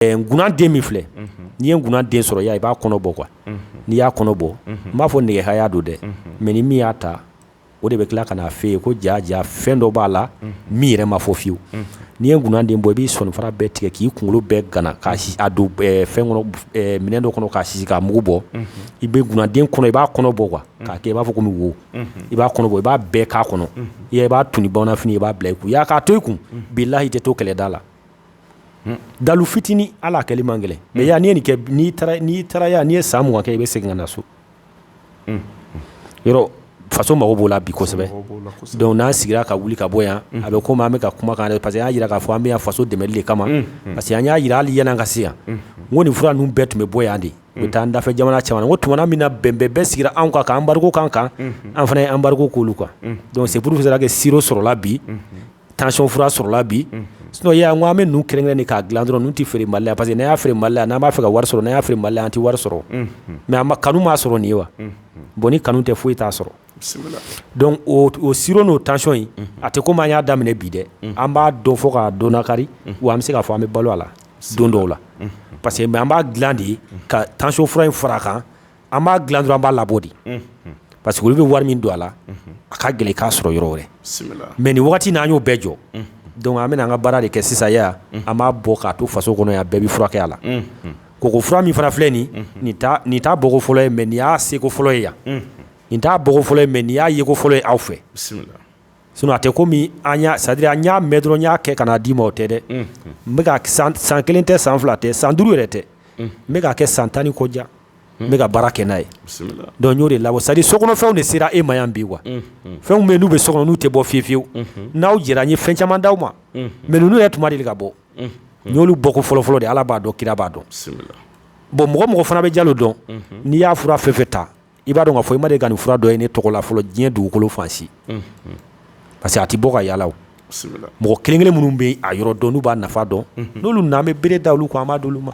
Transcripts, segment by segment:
gunan den min filɛ n'i ye gunan den sɔrɔ i b'a kɔnɔ bɔ quoi n'i y'a kɔnɔ bɔ n b'a fɔ nɛgɛ haya don dɛ mais ni min y'a ta o de bɛ tila k'a fɔ yen ko jaa jaa fɛn dɔ b'a la min yɛrɛ ma fɔ fiyewu n'i ye gunan den bɔ i b'i sɔninfara bɛɛ tigɛ k'i kunkolo bɛɛ gana ka minɛn dɔ kɔnɔ k'a sigi k'a mugu bɔ i bɛ gunan den kɔnɔ i b'a kɔnɔ bɔ quoi k'a kɛ i b'a fɔ ko wo i b'a kɔnɔ bɔ i b'a bɛɛ k'a kɔnɔ i b'a tun ni bamanan fini i b'a bila i kun i y'a to i kun bilahi i tɛ to kɛlɛda la dalu fitinin a lakɛli man gɛlɛn mais yan n n'i taara yan n'i ye san mugan kɛ i bɛ segin ka na so yɔrɔ faso mako b'o la bi kosɛbɛ donc n'a sigira ka wuli ka bɔ yan a bɛ ko an bɛ ka kuma kan pa parce que y'a jira k'a fɔ an bɛ faso dɛmɛli kama parce que an y'a jira ale ɲɛna ka se yan ko nin fura ninnu bɛɛ tun bɛ bɔ yan de u bɛ taa an dafɛ jamana caman ko tuma min na bɛnbɛn bɛɛ sigira anw kan kaan kan kan an fana ye embargo k'olu kan donc seuru sera kɛ siro sɔrɔla bi tension fura sɔrɔla bi sinon i y'a ye n ko an bɛ ninnu kɛrɛnkɛrɛn de k'a dilan dɔrɔn ninnu tɛ feere Mali la parce que n'an y'a feere Mali la n'an b'a fɛ ka wari sɔrɔ n'an y'a feere Mali la an tɛ wari sɔrɔ mais a ma kanu m'a sɔrɔ nin ye wa bon ni kanu tɛ foyi tɛ sɔrɔ bisimila donc o o siro n'o tension in a tɛ ko min an y'a daminɛ bi dɛ an b'a dɔn fo k'a don nakari wa an bɛ se k'a fɔ an bɛ balo a la don dɔw la parce que mais an b'a dilan de ka tension fura in far'a kan An b'a dilan dɔrɔn an b'a labɔ de parce que olu bɛ wari min don a la a ka gɛlɛn k'a sɔrɔ yɔrɔ wɛrɛ mais nin waati na an y'o bɛɛ jɔ donc an bɛna an ka baara de kɛ sisan yan an b'a bɔ k'a to faso kɔnɔ yan bɛɛ b'i furakɛ a la koko fura min fana filɛ nin nin t'a bɔko fɔlɔ ye mais nin y'a seko fɔlɔ ye yan nin t'a bɔko fɔlɔ ye mais nin y'a yeko fɔlɔ ye aw fɛ Sinon a tɛ ko min an y'a c'est-à-dire an y'a mɛ dɔrɔn y'a kɛ k'a di i ma o tɛ dɛ n bɛka san kelen tɛ san fila tɛ san duuru yɛrɛ tɛ n bɛ k'a kɛ san tan ni kɔ déjà n bɛka ka baara kɛ n'a ye dɔn y'o de la sa so kɔnɔfɛnw de sera e ma yan bi wa fɛn bɛ n'u bɛ sokɔnɔ n'u tɛ bɔ fi fiyewu n'aw jɛra an ye fɛn caman d'aw ma mais nin y'a tuma de ka bɔ n'olu bɔko fɔlɔfɔlɔ de ala b'a dɔn kira b'a dɔn bɔn mɔgɔ mɔgɔ fana bɛ Jalo dɔn n'i y'a fura fɛn o fɛn ta i b'a dɔn k'a fɔ i ma deli ka nin fura dɔ ye ne tɔgɔ la fɔlɔ diɲɛ dugukolo fan si parce que a tɛ bɔ ka yaala mɔgɔ kelen kelen minnu bɛ a yɔrɔ dɔn b'a nafa dɔn n'olu na bɛ bereere da olu ko an b'a d'olu ma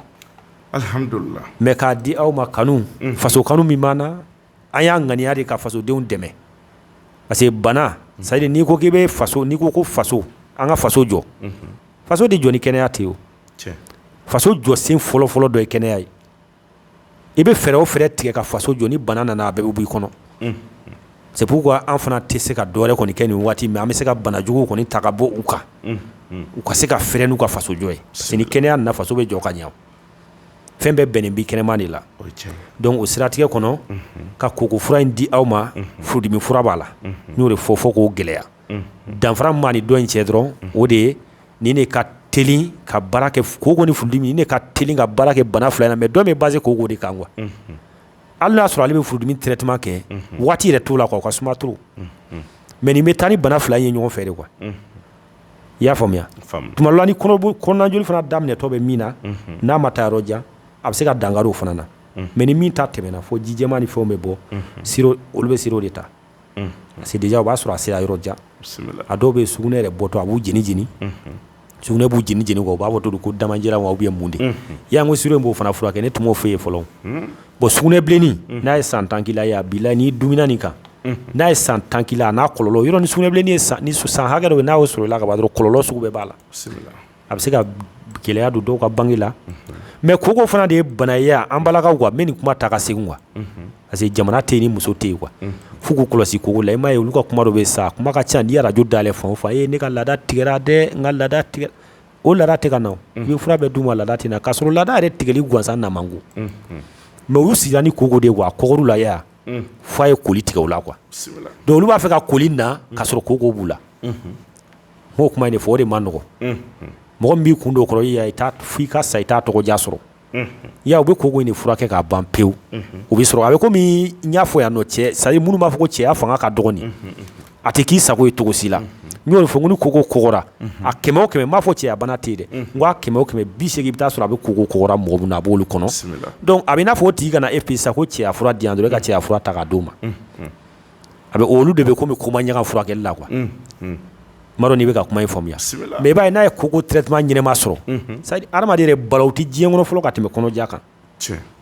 mais k'a di aw ma kanu faso kanu min b'an na an y'a ŋaniya de ka fasodenw dɛmɛ parce que bana sayi n'i ko k'i bɛ faso n'i ko ko faso an ka faso jɔ faso tɛ jɔ ni kɛnɛya tɛ o faso jɔsen fɔlɔfɔlɔ dɔ ye kɛnɛya ye i bɛ fɛɛrɛ o fɛɛrɛ tigɛ ka faso jɔ ni bana nana a bɛ bin i kɔnɔ c'est pourquoi an fana tɛ se ka dɔwɛrɛ kɔni kɛ nin waati min an bɛ se ka bana jugu kɔni ta ka bɔ u kan u ka se ka fɛɛrɛ n'u ka faso jɔ ye sinon ni kɛnɛya nana faso bɛ jɔ ka ɲɛ fɛn bɛɛ bɛn bi kɛnɛya de la donc o siratigɛ kɔnɔ ka koko fura in di aw ma furudimi fura b'a la n'o de fɔ fɔ k'o gɛlɛya danfara b'a ni dɔ in cɛ dɔrɔn o de ye ni ne ka t ka baara kɛ koko ni furudimi ne ka t ka baara kɛ bana fila in na mɛ dɔ bɛ baze koko de kan wa hali y'a sɔrɔ ale bɛ furudimi traitement kɛ waati yɛrɛ t'o la k' ka suma to mɛ nin bɛ taa ni bana fila ye ɲɔgɔn fɛ de kuwa i y'a faamuya tumala ni kɔnɔnajoli fana daminɛtɔ bɛ min na n'a ma taa yɔrɔ jan a bɛ se ka danga fana na mɛ ni min ta tɛmɛna fɔ jijɛma ni fɛnw bɛ bɔ olu bɛ siro de ta déjà o b'a sɔrɔ a sera yɔrɔ jan a dɔw bɛ sugunɛ yɛrɛ bɔtɔ a b'u jeni jeni sugunɛ b'u jeni jeni kɔ u b'a fɔ to ko damajalan wa bɛ mun de yan ko siro in b'o fana furakɛ kɛ ne tun m'o fɔ i ye fɔlɔ bon sugunɛbilenni n'a ye san tan k'i la a bi la ni dumuni nin kan n'a ye san tan k'i la a n'a kɔlɔlɔ yɔrɔ ni sugunɛbilenni ye san hakɛ n'a sɔrɔ la a kɔlɔlɔ sugu bɛɛ b'a la a bɛ se ka gɛlɛya don dɔw ka bange la mɛ koko fana de ye bana ye an balakaw kuwa mɛ nin kuma ta ka segin wa parce que jamana tɛ ni muso tɛ yen kuwa fo k'u kɔlɔsi koko la i m'a ye olu ka kuma dɔ bɛ sa kuma ka ca diyaraj dalenale fɔ fa ye ne ka laada tigɛ dɛ n ka laada tigɛ o laada tɛ ka na ni fura bɛ d'u ma laada tɛ na ka sɔrɔ laada yɛrɛ tigɛli gansan na ko mɛ u si ni koko de wa koko la f' a ye koli tigɛ la kuwa dɔw olu b'a fɛ ka koli na ka sɔrɔ koko b'u la mɔgɔ kuma de fɔ de ma n nɔgɔ mɔgɔ b'i kun kɔrɔ i i ka sa i t tɔgɔ ja sɔrɔ ya u bɛ koko nin furakɛ k'a ban pewu u bɛ sɔrɔ a bɛ kɔmi n y'a fɔ yan nɔ cɛ sa minnu b'a fɔ ko cɛ fanga ka dɔgɔn a tɛ k'i sago ye cogo si la n'o fɔ ko koko kora a kɛmɛ kɛmɛ b'a fɔ cɛ a bana tɛ dɛ n ko'a kɛmɛ kɛmɛ bi segin i bɛ' sɔrɔ a bɛ ko kora mɔgɔ min na b'olu kɔnɔ a bɛ n'a fɔ o tigi kana na e p sa ko cɛ fura di yan don ka cɛ fura ta k'a d'a ma a bɛ olu de bɛ kɔmi kuma ɲaga furakɛli la kuwa i bɛ ka kuma in faamuya mɛ i b'a ye n'a ye koko traitement ɲɛnama sɔrɔ hadamaden yɛrɛ balawu tɛ diɲɛ kɔnɔ fɔlɔ ka tɛmɛ kɔnɔja kan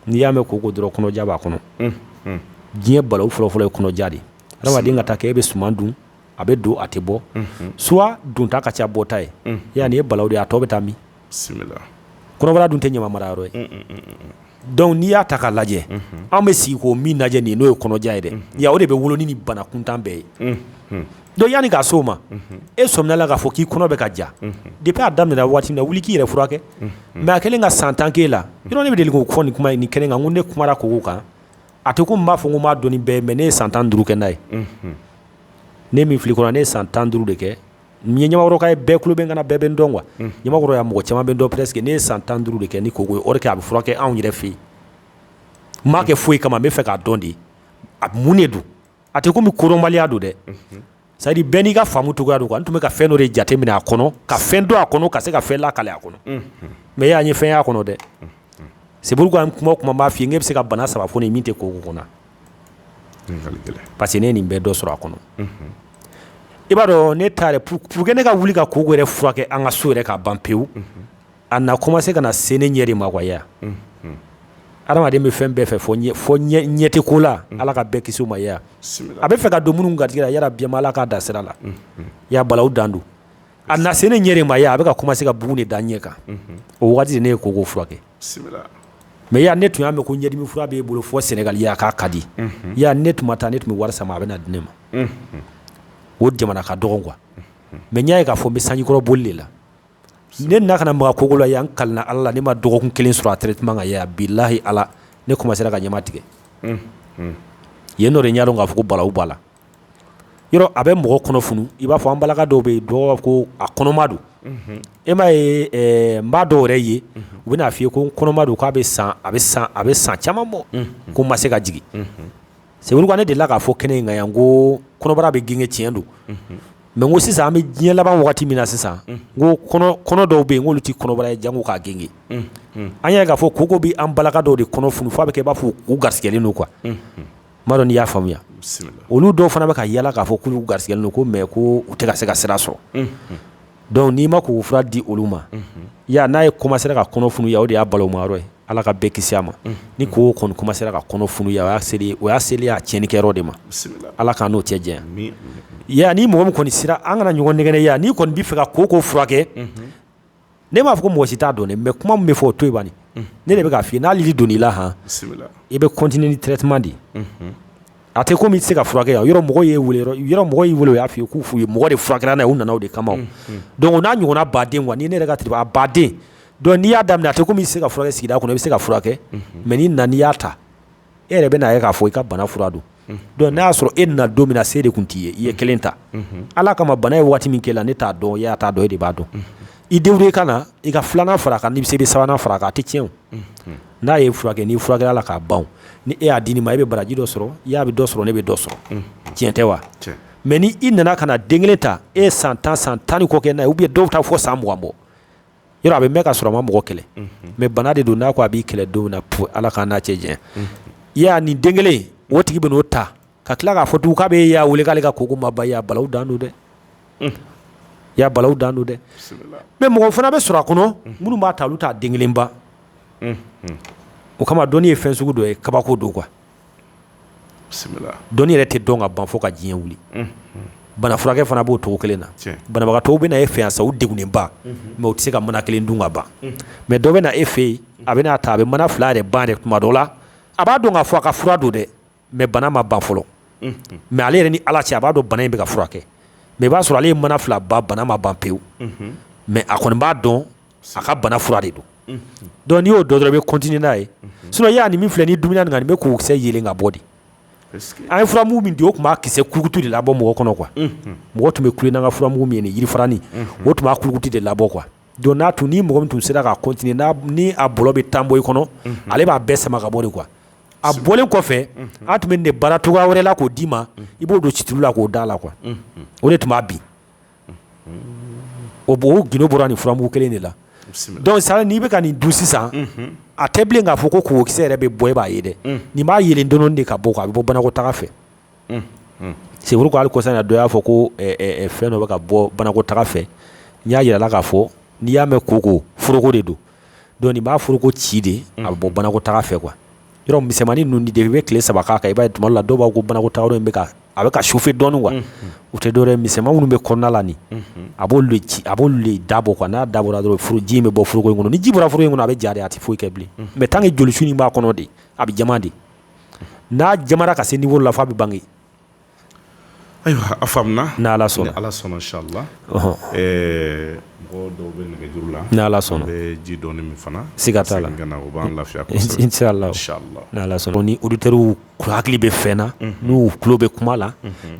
n'i y'a mɛn koko dɔrɔn kɔnɔja b'a kɔnɔ diɲɛ balawu fɔlɔfɔlɔ ye kɔnɔja de adamaden ka taa kɛ e bɛ suman dun a bɛ don a tɛ bɔ suwa donta ka ca bɔta ye yan nin ye balawu de ye a tɔ bɛ taa min kɔnɔ dun tɛ ɲaman marayɔrɔ ye dɔnku n'i y'a ta ka lajɛ an bɛ sigi ko min lajɛ nin n'o ye kɔnɔja ye dɛ ya o de bɛ wolo ni bana kuntan bɛɛ ye dɔn yanni i ka se o ma e sɔmina k'a fɔ k'i kɔnɔ bɛ ka ja de b'a daminɛ waati na wuli k'i yɛrɛ furakɛ mɛ a kɛlen ka san tan kelen la dɔn n bɛ deli k'a fɔ nin kuma ɲi ni kelen kan ko ne kuma koko kan a tɛ ko n b'a fɔ ko n b'a dɔn ni bɛɛ mɛ ne ye san tan duuru kɛ n'a ye ne min filɛ kɔnɔ ne ye san tan duuru de kɛ N ye ɲamakɔrɔka ye bɛɛ tulo bɛ n kan na bɛɛ bɛ n dɔn quoi unhun ɲamakɔrɔ yan mɔgɔ caman bɛ n dɔn presque ne ye san 15 de kɛ ni koko ye or que a bɛ furakɛ anw yɛrɛ fɛ yen n m'a kɛ foyi kama n bɛ fɛ k'a dɔn de a bɛ mun de don a tɛ comme kodɔnbaliya don dɛ unhun c'est à dire bɛɛ n'i ka faamu cogoya don quoi n tun bɛ ka fɛn dɔ de jateminɛ a kɔnɔ ka fɛn dɔn a kɔnɔ ka se ka fɛn lakale a kɔnɔ unhun mais yan n ye fɛn y'a kɔnɔ dɛ unhun c'est pourquoi n kuma o kuma n b'a f'i ye n'e bɛ se ka bana 3 fɔ ne ye min tɛ koko kɔnɔ a parce que ne nin bɛɛ dɔ sɔrɔ a kɔnɔ i b'a dɔn ne ta yɛrɛ pour que ne ka wuli ka koko yɛrɛ furakɛ an ka so yɛrɛ k'a ban pewu a na commencer ka na se ne ɲɛ de ma quoi yaya adamaden bɛ fɛn bɛɛ fɛ fɔ ɲɛti ko la ala ka bɛɛ kisi a ma a bɛ fɛ ka don minnu garidi yɛrɛ bima ala k'a da sira la ya balawu dan don a na se ne ɲɛ ma ye a bɛ ka commencer ka bugun de da ɲɛ kan o waati ne ye koko furakɛ mais yan ne tun y'a mɛn ko ɲɛdimi fura bɛ' bolo fɔ sɛnɛgali ya k'a ka di ya ne tun taa ne tun bɛ wari sama a bɛn'a di ne ma o jamana ka dɔgɔn quoi mais n y'a ye k'a fɔ n bɛ sanjikɔrɔ boli de la ne na ka ma koko la yan kalen ala la ne ma dɔgɔkun kelen sɔrɔ a traitement kan bilayi ala ne commencera ka ɲɛ tigɛ yen n dɔ de n y'a dɔn k'a fɔ ko bala b'a la yɔrɔ a bɛ mɔgɔ kɔnɔ funu i b'a fɔ an balaka dɔw bɛ yen dɔw ko a kɔnɔma don e m'a ye ɛɛ n ba dɔw yɛrɛ yen u bɛn'a fɔ i ye ko n kɔnɔma don k'a bɛ san a bɛ san a bɛ san caman bɔ ko n ma se ka jigin c'est vrai que ne delila k'a fɔ kɛnɛ in kan yan ko kɔnɔbara bɛ gengen tiɲɛ don mais n ko sisan an bɛ diɲɛ laban waati min na sisan n ko kɔnɔ dɔw bɛ yen k'olu tɛ kɔnɔbara ye jango k'a gengen an y'a ye k'a fɔ koko bɛ an balaka dɔw de kɔnɔ funu f'a bɛ kɛ i b'a fɔ u garisɛgɛlen don quoi donc y'a faamuya olu dɔw fana bɛ ka yaala k'a fɔ k'olu garisɛgɛlen don quoi mais ko u tɛ se ka sira sɔrɔ donc n'i ma koko fura di olu ma ya n'a ye commencera ka kɔnɔ funu o de y'a balawuma ye ala ka bɛɛ kisi a ma ni koko kɔni commencera ka kɔnɔ funu o y'a seli o y'a seli y'a tiɲɛni kɛ de ma ala k'an n'o cɛ janya ni mɔgɔ kɔni sera an kana ɲɔgɔn nɛgɛn yan n'i kɔni b'a fɛ ka koko furakɛ ne b'a fɔ ko mɔgɔ si t'a dɔn dɛ mais kuma min bɛ fɔ o to yen bani, unhun, ne de bɛ k'a fɔ i ye n'a lili donna i la han, bisimila, i bɛ continuer ni traitement de ye, unhun, a tɛ comme i tɛ se k'a furakɛ yan yɔrɔ mɔgɔw y'i wele yɔrɔ yɔrɔ mɔgɔw y'i wele u y'a fɔ i ye k'u f'u ye mɔgɔ de furakɛra n'a ye u nana o de kama o, unhun, donc o n'a ɲɔgɔnna baden quoi ni ne yɛrɛ ka tiribaa a baden donc n'i y'a daminɛ a tɛ comme i tɛ se k'a furakɛ sigida kɔnɔ i bɛ se k'a furakɛ, unhun, mais n'i nana n'i y'a ta e yɛrɛ bɛn'a ye k'a fɔ i ka bana fura don donc n' y'a sɔrɔ e na don min na se de tun t'i ye i ye kelen ta ala ka bana ye waati min kɛ i la ne t'a dɔn e' dɔn e de b'a dɔn i denw i ka na i ka filanan far'a kan se sabanan far'a kan a tɛ tiɲɛ n'a ye furakɛ n'i furakɛla k'a ban ni e y'a di ma i bɛ baraji dɔ sɔrɔ yaya bɛ dɔ sɔrɔ ne bɛ dɔ sɔrɔ tiɲɛ tɛ wa mais ni i nana ka na den kelen ta e san tan san tan ni kɔ kɛ na u bɛ dɔw ta fɔ san mugan bɔ yɔrɔ a bɛ mɛn ka sɔrɔ a ma mɔgɔ kɛlɛ mais bana de don n'a ko a b'i kɛlɛ don min na ala k'an n'a cɛ janya nin den kelen o tigi bɛn'o ta ka tila k'a fɔ tugun k'a bɛ yaya weele k'ale ka koko ma ban ya balawu dan don dɛ ya balawu dan don dɛ mais mɔgɔ fana bɛ sɔrɔ a kɔnɔ minnu b'a ta olu ta den kelenba o kama dɔnnii ye fɛn sugu dɔ ye kabako don quoi dɔnni yɛrɛ tɛ dɔn ka ban fo ka diɲɛ wuli bana furakɛ fana b'o cogo kelen na banabagatɔ bɛna e fɛ yan sa o degunba mɛ o tɛ se ka mana kelen dun ka ban mɛ dɔ bɛ na e fɛ yen a bɛna a ta a bɛ mana fila yɛrɛ ban dɛ tuma dɔ la a b'a dɔn k'a fɔ a ka fura don dɛ mɛ bana ma ban fɔlɔ mɛ ale yɛrɛ ni ala cɛ a b'a dɔn bana in bɛ ka furakɛ mɛ i b'a sɔrɔ ale ye mana fila ban bana ma ban pewu mɛ a kɔni b'a dɔn a ka bana fura de don donc n'i y'o dɔn dɔrɔn i bɛ kɔntine n'a ye s y'a nin min filɛ ni dumuni nin bɛ ka kokisɛ yeelen ka bɔ de a ye furamugu min don o tun b' ki kukutu de labɔ mɔgɔ kɔnɔ quoi mɔgɔ tun bɛ kuina ka furamugu min yirifani o tun b' kukuti de labɔ quoi donc n'a tun ni mɔgɔ min tun sera ka kot ni a bolo bɛ tan bɔ i kɔnɔ ale b'a bɛɛ sama ka bɔ de quoi a bɔlen kɔfɛ a tun bɛ de bara tu wɛrɛ la k'o d'i ma i b'o don situlu la k'o da a la quoi o de tun b'a bi o bon g bɔra nin furamugu kelen de la donc sisan n'i bɛ ka nin dun sisan a tɛ bilen k'a fɔ ko kokisɛ yɛrɛ bɛ bɔ i b'a ye dɛ nin b'a yeelen dɔrɔn de ka bɔ a bɛ bɔ banakotaa fɛ sabu hali kɔsa dɔ y'a fɔ ko fɛn dɔ bɛ ka bɔ banakotaa fɛ n y'a jira a la k'a fɔ n'i y'a mɛn koko foroko de don donc nin b'a foroko ci de a bɛ bɔ banakotaa fɛ quoi yɔrɔ misɛnmanin ninnu de i bɛ tile saba k'a kan i b'a ye tuma dɔ la dɔw b'a fɔ ko banakɔtaayɔrɔ in bɛ ka a bɛ ka chauffer dɔɔnin quoi o tɛ dɔwɛrɛ ye misɛnman minnu bɛ kɔnɔna la nin a b'olu de ci a b'olu de dabɔ quoi n'a dabɔra dɔrɔn furu ji in bɛ bɔ foroko in kɔnɔ ni ji bɔra foroko in kɔnɔ a bɛ ja de a tɛ foyi kɛ bilen mais tant que jolisu in b'a kɔnɔ de a bɛ jama de n'a jamana ka se niveau dɔ la f'a bɛ bange Ayiwa a faamuna ni ala sɔnna ala sɔnna sa la mɔgɔ dɔw bɛ nɛgɛj la ni ala sɔnna bɛ ji dɔn min fana se ka la o b'an lafiya ni auditeurs hakili bɛ fɛn na n'u tulo bɛ kuma la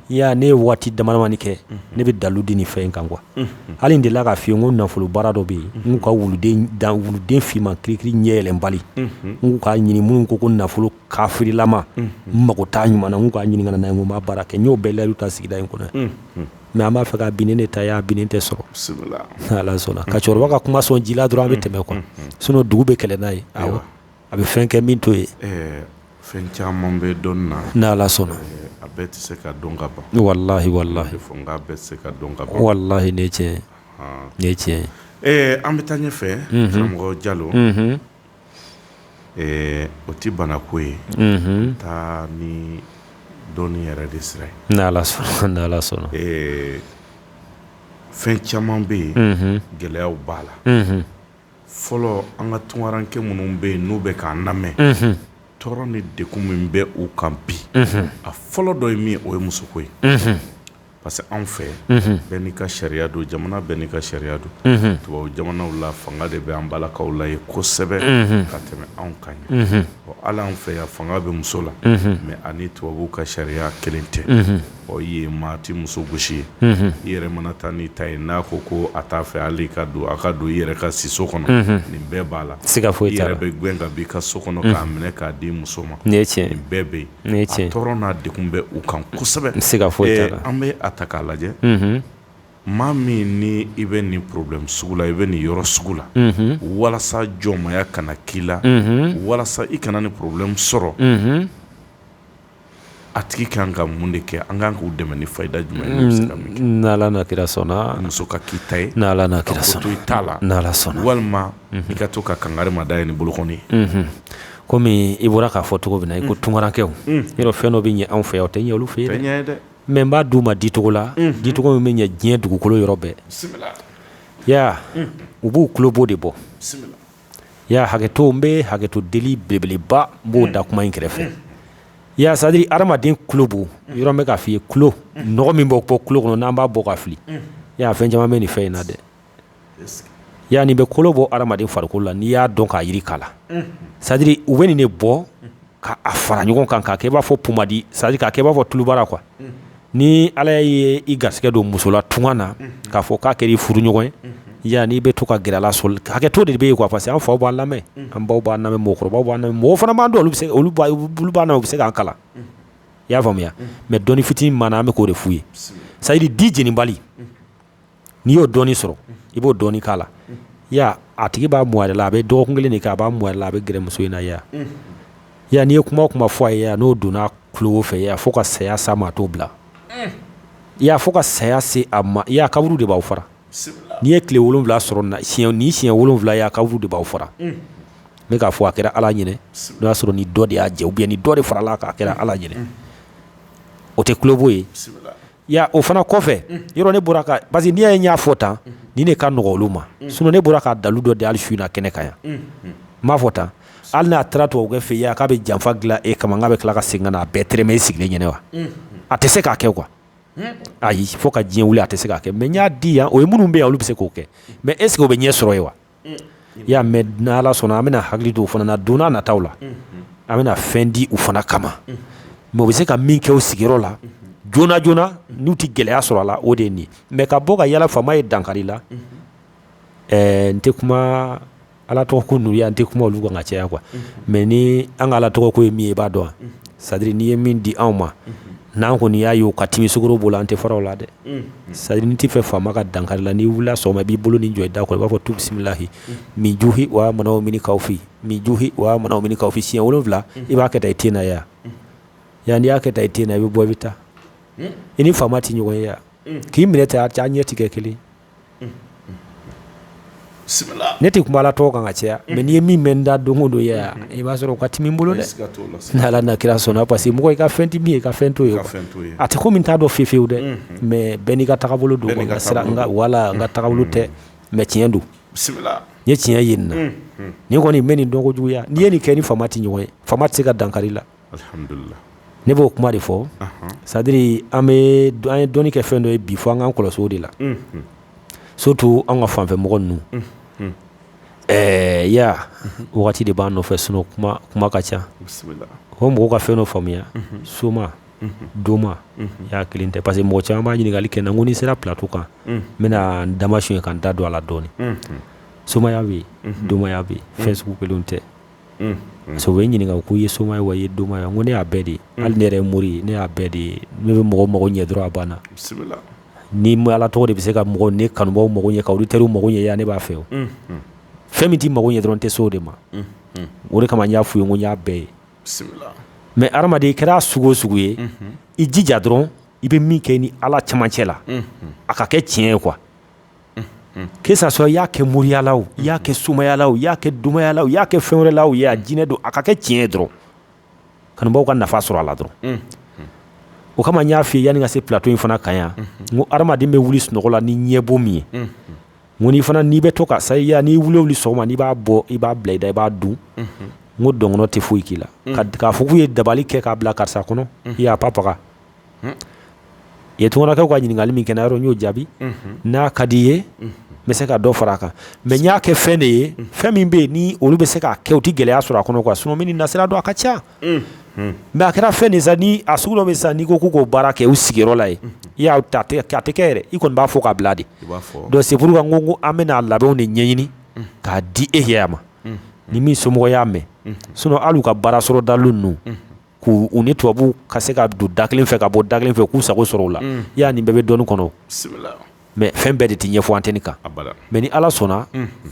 i y'a ye ne ye waati damadamanin kɛ ne bɛ dalu di nin fɛn in kan quoi hali de la k'a fɔ yen ko nafolo baara dɔ bɛ yen n'u ka wuluden dan wuluden finman kirikiri ɲɛ yɛlɛbali n'u k'a ɲinin minnu ko ko nafolo kafilama mako taa ɲuman n k'a ɲininka n ko ma baara kɛ n'o bɛɛ layidu ta sigida in kɔnɔ mɛ an b'a fɛ ka bin ne ta y'a bin tɛ sɔrɔ ka cɛkɔrɔba ka kuma sɔn ji dɔrɔn bɛ tɛmɛ kɔnɔ sun dugu bɛ kɛlɛ n'a ye ayiwa a bɛ fɛn kɛ min to ye fɛn caman bɛ dɔn n ala sɔnna a bɛɛ tɛ se ka dɔn ka ban walayi bɛ se ka dɔn ka walayi ne cɛ ne cɛ an bɛ taa ne fɛ mɔgɔ jalo o tɛ bana ko ye taa ni dɔnni yɛrɛ de sira ye fɛn caman bɛ yen gɛlɛyaw b'a la fɔlɔ an ka tunkarankɛ minnu bɛ yen n'u bɛ k'an lamɛn tɔɔrɔ ni degun min bɛ u kan bi a fɔlɔ dɔ ye min o ye muso ko ye parce que anw fɛ bɛɛ n'i ka sariya don jamana bɛɛ n'i ka sariya don tubabu jamanaw la fanga de bɛ an balakaw la yen kosɛbɛ ka tɛmɛ anw ka ɲɛ ala anw fɛ yan fanga bɛ muso la mais ani tubabu ka sariya kelen tɛ ɔ i ye maa tɛ muso gosi yen i yɛrɛ mana taa n'i ta yen n'a ko ko a t'a fɛ hali ka don a ka don i yɛrɛ ka si so kɔnɔ nin bɛɛ b'a la se ka fɔ i yɛrɛ bɛ gɛn ka bɔ i ka so kɔnɔ k'a minɛ k'a di muso ma nin ye tiɲɛ bɛɛ bɛ yen tɔɔrɔ n'a de bɛ u kan kosɛbɛ bɛ se ka fɔ an bɛ a ta k'a lajɛ maa min ni i bɛ nin problème sugu la i bɛ nin yɔrɔ sugu la walasa jɔnmaya kana k'i la walasa i kana nin problème sɔrɔ a tigi ka kan ka mun de kɛ an ka k'u dɛmɛ ni faida jumɛn sanni muso ka ki ta to i t'a la walima i ka to ka kanga mada ye ni bolo kɔmi i bɔra k'a fɔ cogo min na i ko mm. tunkarankɛ mm. yɔrɔ fɛn dɔ bɛ ɲɛ anw fɛ yan o tɛ ɲɛ olu fɛ yen dɛ mais n b'a d'u ma dicogo la mm. dicogo min bɛ ɲɛ diɲɛ dugukolo yɔrɔ bɛɛ ya u b'u tulobo de bɔ ya hakɛto n bɛ hakɛto deli belebeleba n b'o da kuma in kɛrɛfɛ ya c'est-à-dire adamaden tulobo yɔrɔ bɛ k'a f'i ye tulo nɔgɔ min bɛ bɔ tulo kɔnɔ n'an b'a bɔ k'a fili ya fɛn caman bɛ nin fɛn in na dɛ Yan nin bɛ kolo bɔ hadamaden farikolo la n'i y'a dɔn k'a jiri k'a la c'est-à-dire u bɛ nin de bɔ k' a fara ɲɔgɔn kan ka i b'a fɔ pdi c'est-à-dire k' i b'a fɔ tulubara qu ni ala ye i garisɛgɛ don muso la tun na k'a fɔ k'a kɛra i furuɲɔgɔn ye yan n'i bɛ to ka gla soli hakɛ to de bɛ yen parce que an fa b'a lamɛn an baw b'a lamɛn mɔgɔkɔrɔba mɔgɔ fana b'a dɔn se olu banna u bɛ se k'an kalan i y'a faamuya mais dɔnni fitinin mana an bɛ k'o de f'u ye c'est-à-dire jeni bali n'i y'o dɔɔnin sɔrɔ i b'o dɔɔnin k'a la a tigi b'a mɔ la a bɛ dɔgɔkun kelen kɛ a b'a mɔ la a bɛ gɛrɛ muso in na yan yan n'i ye kuma kuma fɔ a ye yan n'o donna tulo fɛ yan fo ka saya se a ma to bila i y'a fɔ ka saya se a ma i y'a kaburu de b'aw fara n'i ye tile wolon wolonwula sɔrɔ na si ni siɲɛ wolon wolonwula y'a kaburu de b'aw fara n bɛ k'a fɔ a kɛra ala ɲɛ o y'a sɔrɔ ni dɔ de y'a jɛ u bɛ ni dɔ de far'a la k'a kɛra ala ɲɛ o tɛ tulobo ye Ya o fana kɔfɛ yɔrɔ ne bɔra ka parce que n'i ye y'a fɔ tan ni ne ka mɔgɔ olu ma sɔn ne bɔra ka dalu dɔ de hali su na kɛnɛ kan yan n m'a fɔ tan hali n'a taara to fɛ yen k'a bɛ janfa dilan e kama bɛ tila ka segin ka a bɛɛ trɛnmɛ e sigilen ɲɛna wa a tɛ se k'a kɛ quoi a y'i fɔ ka diɲɛ wili a tɛ se k'a kɛ mais n'i y'a di yan o ye minnu bɛ yan olu bɛ se k'o kɛ mais est-ce que o bɛ ɲɛ sɔrɔ yen wa i y'a mɛ ni Ala sɔnna an bɛna hakili to o fana na don nataw la an bɛna fɛn di u fana kama mais u bɛ se ka min kɛ u sigiyɔrɔ la joona joona n'u tɛ gɛlɛya sɔrɔ a la o de ye nin ye mais ka bɔ ka yala faama ye dankari i la ɛɛ n tɛ kuma Ala tɔgɔ ko ninnu ya n tɛ kuma olu kan ka caya quoi mais ni an ka Ala tɔgɔ ko ye min ye i b'a dɔn wa c'est à dire n'i ye min di anw ma n'an kɔni y'a ye o ka timi sukoro b'o la an tɛ fara o la dɛ. c'est à dire n'i t'a fɛ faama ka dankari i la n'i wulila sɔgɔma i b'i bolo nin jɔ i da kɔrɔ i b'a fɔ tu bisimilahi min juhi wa amanahum mini kawufi min juhi wa amanahum mini kawufi siɲɛ wolonwula i b'a kɛ i ten na yan yan n'i y'a kɛ i ten na i bɛ bɔ i bɛ taa i ni faama tɛ ɲɔgɔn ye yan k'i minɛ ta a taa ɲɛ tigɛ kelen ne tɛ kuma ala tɔgɔ kan ka caya mais n'i ye min bɛ n da don don ye i b'a sɔrɔ o ka tɛmɛ bolo dɛ ala n'a kira sɔnna parce que mɔgɔ i ka fɛn tɛ min ye ka fɛn to ye a tɛ ko min t'a dɔn fiyewu dɛ mais bɛn n'i ka taga bolo don wala n ka taga tɛ mais tiɲɛ don ye tiɲɛ ye nin na ni kɔni bɛ nin dɔgɔ juguyaya n'i ye nin kɛ i ni faama tɛ ɲɔgɔn ye faama tɛ se ka dankari i la ne b'o kuma de fɔ c'est à dire an ye dɔɔni kɛ fɛn dɔ ye bi fɔ an k'an kɔlɔsi de la surtout an ka fanfɛmɔgɔ ninnu ɛɛ ya waati de b'an nɔfɛ sinon kuma ka ca ko mɔgɔw ka fɛn dɔ faamuya soma donmaya kelen tɛ parce que mɔgɔ caman b'a ɲininkali kɛ n na ko n'i sera ptu kan n bɛna n dama sunjata ye ka n da don a la dɔɔnin somaya bɛ yen donmaya bɛ yen fɛn sugu kelen tɛ bɛ ɲininka k'i ye soma ye wa i ye donma ye ko ne y'a bɛɛ de ye hali ne yɛrɛ mori ye ne y'a bɛɛ de ye ne bɛ mɔgɔ mago ɲɛ dɔrɔn a banna ni ma ala tɔgɔ de bɛ se ka mɔgɔ ni kanubaw mago ɲɛ olu teri mago ɲɛ yan ne b'a fɛ o fɛn min tɛ mago ɲɛ dɔrɔn n tɛ sɔn o de ma o de kama n y'a fɔ i ye ko n y'a bɛɛ ye mais hadamaden i kɛra a sugu o sugu ye i jija dɔrɔn i bɛ min kɛ i ni ala camancɛ la a ka kɛ tiɲɛ ye kuwa kisa sɔrɔ i y'a kɛ moriya la i y'a kɛ somaya la i y'a kɛ donmaya la i y'a kɛ fɛn wɛrɛ la o y'a jinɛinɛ don a ka kɛ tiɲɛ dɔrɔn kanubaw ka nafa sɔrɔ a la dɔrɔn o kama n y'a fɔ i ye yanni n ka se pto in fana kan yan n ko hadamaden bɛ wuli sunɔgɔ la ni ɲɛbo min ye mun i fana n'i bɛ to ka sayi n'i wili wuli sɔgɔma i b'a bɔ i b'a bila i da i b'a dun n ko dɔn tɛ foyi k'i la k'a fɔ k'u ye dabali kɛ k'a bila karisa kɔnɔ i y'a faga ye tunkarankɛw ka ɲininkali min kɛ n na n y'o jaabi n'a ka di i ye n bɛ se ka dɔ fara a kan mais n y'a kɛ fɛn de ye fɛn min bɛ yen ni olu bɛ se ka kɛ u tɛ gɛlɛya sɔrɔ a kɔnɔ ka so min nasira don a ka ca mais a kɛra fɛn ni a sugu dɔ bɛ sa n'i ko ko k'o baara kɛ u sigiyɔrɔ la ye i y'a ta tɛ yɛrɛ i kɔni b'a fɔ k'a bila de don se kan ko ko an bɛna labɛnw de ɲɛɲini k'a di e ma ni min somɔgɔ y'a mɛn sinon hali ka baara sɔrɔ dalu ninnu k' u ni tubabu ka se ka don da kelen fɛ ka bɔ da kelen fɛ k'u sago sɔrɔ la y'a nin bɛɛ bɛ dɔnni kɔnɔ mɛ fɛn bɛɛ de tɛ ɲɛfɔ antɛni kan mɛ ni ala sɔnna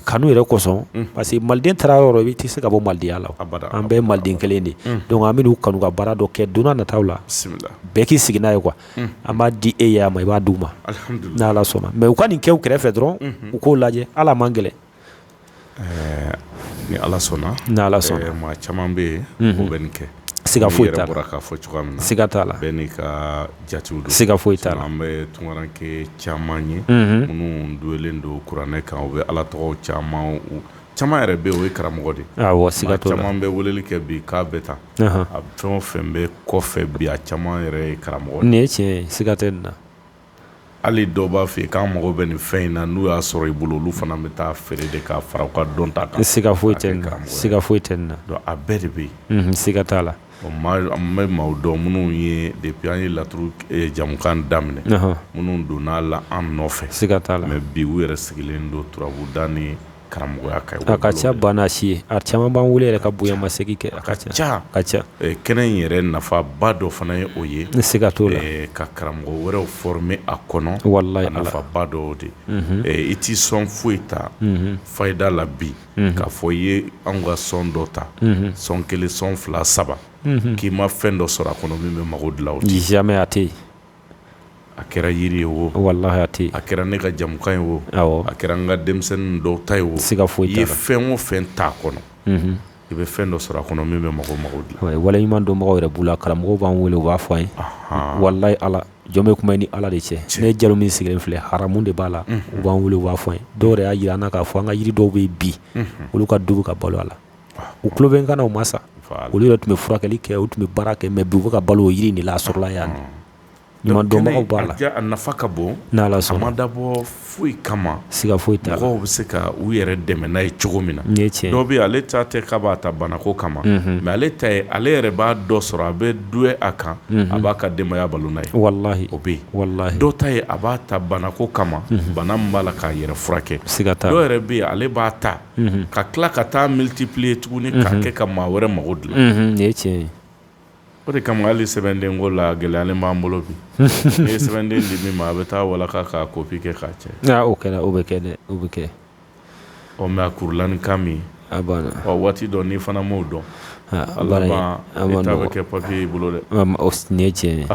kanu yɛrɛ kosɔn parce que maliden taara yɔrɔ i tɛ se ka bɔ malidenya la an bɛɛ maliden kelen de don an bɛ kanu ka baara dɔ kɛ don nataw la bɛɛ k'i sigi n'a ye kuwa an b'a di e' ma i b'a di' u ma n' ala sɔnna mɛ u ka nin kɛ kɛrɛfɛ dɔrɔn u k'o lajɛ ala man gɛlɛn Ɛɛ ni ala sɔnna ni ala sɔnna mɔgɔ caman bɛ yen o bɛ nin kɛ siga foyi ka fɔ cogoya min siga t'a la bɛ ka jate don siga foyi t'a an bɛ tunkaranke caman ye minnu donlen don kuranɛ kan u bɛ ala tɔgɔ caman caman yɛrɛ bɛ o ye karamɔgɔ de siga caman bɛ weleli kɛ bi k'a bɛ taa a fɛn o fɛn bɛ kɔfɛ bi a caman yɛrɛ ye karamɔgɔ nin ye tiɲɛ siga tɛ nin na Hali dɔw b'a fɛ yen k'an mago bɛ nin fɛn in na n'u y'a sɔrɔ i bolo olu fana bɛ taa feere de k'a fara u ka dɔnta kan siga foyi tɛ siga foyi tɛ na a bɛɛ de bɛ yen siga t'a la an bɛ maaw dɔn minnu ye depuis an ye laturu jamukan daminɛ minnu donna a la an nɔfɛ siga t'a la mɛ bi u yɛrɛ sigilen don turabu dan ye karamɔgɔya ka a ka ca banna si ye a caman b'an wele yɛrɛ ka bonyama segin kɛ a ka ca ca ka ca kɛnɛ in yɛrɛ nafa ba dɔ fana ye o ye siga t'o la ka karamɔgɔ wɛrɛw fɔrɔme a kɔnɔ wa nafa ba dɔ de i t'i sɔn foyi ta fayida la bi k'a fɔ i ye an ka sɔn dɔ ta sɔn kelen sɔn fila saba k'i ma fɛn dɔ sɔrɔ a kɔnɔ min bɛ mako dilan jamais a tɛ yen a kɛra yiri ye o walahi a kɛra ne ka jamukan ye wo a kɛra n ka denmisɛnnin dɔw ta ye o siga foyi fɛn o fɛn t'a kɔnɔ i bɛ fɛn dɔ sɔrɔ a kɔnɔ min bɛ mɔgɔ mako dilan waleɲumandɔn mɔgɔw yɛrɛ b'u la karamɔgɔw b'an wele u b'a fɔ ye walahi ala jɔn bɛ kuma ni ala de cɛ ne Jalo min sigilen filɛ haramu de b'a la u b'an wele u b'a fɔ ye dɔw yɛrɛ y'a yira an na k'a fɔ an ka yiri dɔw bɛ bi olu ka du bɛ ka balo a la u tulo bɛ n kan na u ma sa olu yɛrɛ tun bɛ furakɛli kɛ u tun bɛ baara kɛ mɛ bi u bɛ ka balo yiri nin la sɔrɔla yan ɲumandɔn b'a la a nafa ka bon a ma dabɔ foyi kama siga foyi tɛ mɔgɔ bɛ se ka u yɛrɛ dɛmɛ n'a ye cogo min na nin cɛ dɔ bɛ ale ta tɛ k'a b'a ta banako kama mɛ ale ta ale yɛrɛ b'a dɔ sɔrɔ a bɛ du a kan a b'a ka denbaya balo n'a ye walahi o bɛ walahi dɔ ta ye a b'a ta banako kama bana min b'a la k'a yɛrɛ furakɛ siga t'a yɛrɛ bɛ ale b'a ta ka tila ka taa multiplier tuguni k'a kɛ ka maa wɛrɛ mako dilan tiɲɛ o de kama hali sɛbɛnden ko la gɛlɛyalen b'an bolo bi n'i ye sɛbɛnden di min ma a bɛ taa walaka k'a kɔpi kɛ k'a cɛ kɛra bɛ kɛ dɛ o bɛ kɛ ɔ mɛ kurulalankan min waati dɔn ni fana maaw dɔn I ta bɛ kɛ papiye y'i bolo dɛ tiɲɛ tiɲɛ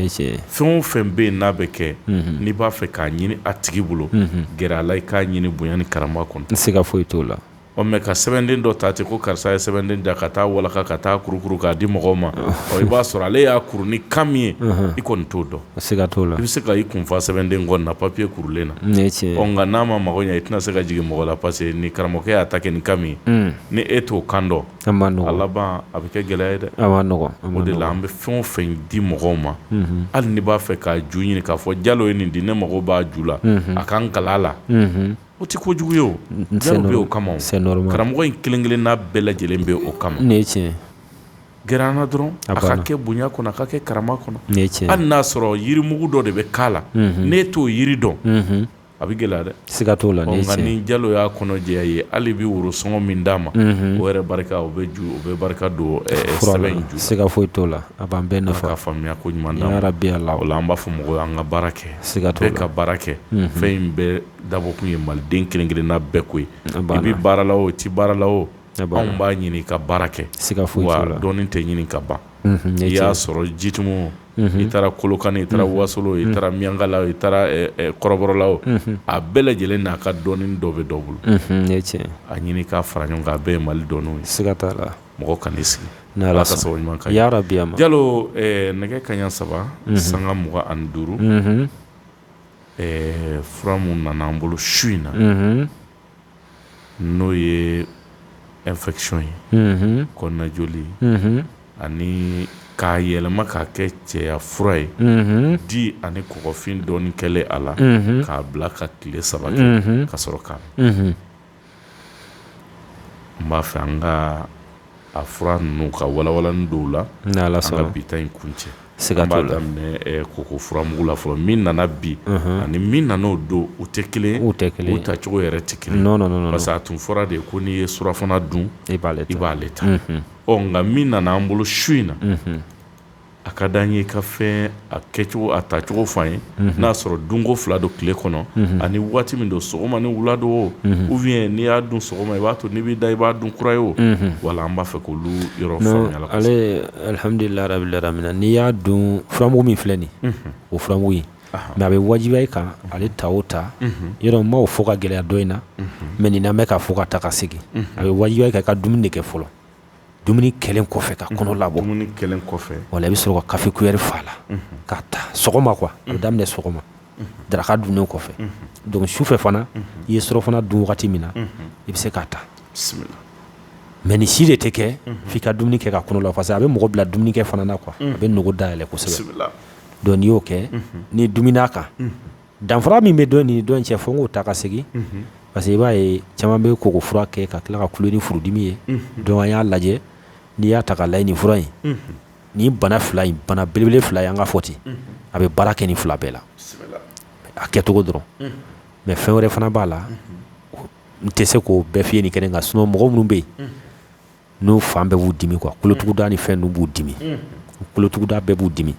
tiɲɛ fɛn o fɛn bɛ yen n'a bɛ kɛ n'i b'a fɛ k'a ɲini a tigi bolo gɛrɛ a la i k'a ɲini bonya ni karama kɔnɔ dɛ siga foyi t'o la mɛ ka sɛbɛnden dɔ ta ten ko karisa ye sɛbɛnden da ka taa wala ka taa kurukuru k'a di mɔgɔw ma i b'a sɔrɔ ale y'a kuru ni kan min ye i kɔni t'o dɔn a siga t'a la i bɛ se ka i kunfa sɛbɛnden kɔnɔna na papiye kurulen na nka n'a ma mago ɲɛ i tɛna se ka jigin mɔgɔ la parce que ni karamɔgɔkɛ y'a ta kɛ ni kan min ye ni e t'o kan dɔn a ma nɔgɔ, a laban a bɛ kɛ gɛlɛya ye dɛ, a ma nɔgɔ, o de la an bɛ fɛn o fɛn di mɔgɔw ma hali n'i b'a fɛ k'a ju ɲini k'a fɔ jalo ye nin di ne mago b'a ju la a ka n kalan a la o tɛ ko jugu ye o jalo bɛ o kama karamɔgɔ in kelen kelenna bɛɛ lajɛlen bɛ o kama nin ye tiɲɛ gɛrɛ an na dɔrɔn a ka kɛ bonya kɔnɔ a ka kɛ karama kɔnɔ nin ye tiɲɛ hali n'a sɔrɔ yirimugu dɔ de bɛ k'a la n'e t'o yiri dɔn A bɛ gɛlɛya dɛ siga t'o la ni jalo y'a kɔnɔ jɛya i ye hali i bɛ woro sɔngɔ min d'a ma o yɛrɛ barika o bɛ barika don siga foyi t'o la a b'an bɛɛ nafa ka faamuya ko ɲuman o de la an b'a fɔ mɔgɔ an ka baara kɛ siga t'o ka baara kɛ fɛn in bɛɛ dabɔkun ye maliden kelen-kelenna bɛɛ ko ye i bɛ baara la o i tɛ baara la o an b'a ɲini ka baara kɛ siga foyi dɔnni tɛ ɲini ka ban i y'a sɔrɔ jitumu i taara kolokani i taara wasolon i taara miyankala i taara kɔrɔbɔrɔla o a bɛɛ lajɛlen n'a ka dɔnni dɔ bɛ dɔ bolo a ɲini k'a fara ɲɔgɔn a bɛɛ mali dɔnni ye siga t'a la mɔgɔ ka sigi ɲuman jalo nɛgɛ kanɲɛ saba sanga mugan ani duuru fura minnu nana an bolo su in na n'o ye ɛnfɛkisiyɔn ye kɔnɔnajoli ye ani k'a yɛlɛma k'a kɛ cɛya fura ye di ani kɔgɔfin dɔɔni kɛlen a la k'a bila ka tile saba kɛ ka sɔrɔ k'a an b'a fɛ an ka a fura ninnu ka walawalani dɔw la an ka bi ta in kuncɛ se ka b'a daminɛ koko furamugu la fɔlɔ min nana bi ani min nana' o don u tɛ kelen u tɛ kelen u ta cogo yɛrɛ tɛ kelen nɔn parce a tun fɔra de ye ko n'i ye surafana dun e b'a i b'ale ta ɔ nka min nana an bolo su in na a ka di an ye ka fɛn a kɛcogo a tacogo f'an ye n'a sɔrɔ dunko fila don tile kɔnɔ ani waati min don sɔgɔma ni wulado o ou bien n'i y'a dun sɔgɔma i b'a to n'i b'i da i b'a dun kura ye o wala an b'a fɛ k'olu yɔrɔ faamu alihamudulilayi arabilalamina n'i y'a dun furamugu min filɛ nin o furamugu ye nka a bɛ wajibiya i kan ale ta o ta yɔrɔ n m'o fɔ ka gɛlɛya dɔ in na mɛ nin n bɛ k'a fɔ ka taa ka segin a bɛ wajibiya i kan i ka dumuni de kɛ fɔlɔ dumuni kɛlen kɔfɛ ka kɔnɔ labɔ dumuni kɛlen kɔfɛ wala i bɛ sɔrɔ ka kafe kuyɛri fa la k'a ta sɔgɔma quoi a bɛ daminɛ sɔgɔma daraka dunnen kɔfɛ donc su fɛ fana i ye surɔfana dun wagati min na i bɛ se k'a ta mais nin si de tɛ kɛ f'i ka dumuni kɛ ka kɔnɔ la parce que a bɛ mɔgɔ bila dumunikɛ fana na quoi a bɛ nugu da yɛlɛ kosɛbɛ donc n'i y'o kɛ ni dumuni kan danfara min bɛ dɔ ni dɔ cɛ fo n k'o ta ka segin parce que i b'a ye caman bɛ koko fura kɛ ka tila ka kule ni furudimi ye donc an y'a lajɛ n'i y'a ta ka layi ni fura in ni bana fila in bana belebele fila in an k'a fɔ ten a bɛ baara kɛ nin fila bɛɛ la a kɛcogo dɔrɔn mais fɛn wɛrɛ fana b'a la n tɛ se k'o bɛɛ f'i ye ni kɛ ka suma mɔgɔ minnu bɛ yen n'u fan bɛɛ b'u dimi quoi kolotuguda ni fɛn b'u dimi kolotuguda bɛɛ b'u dimi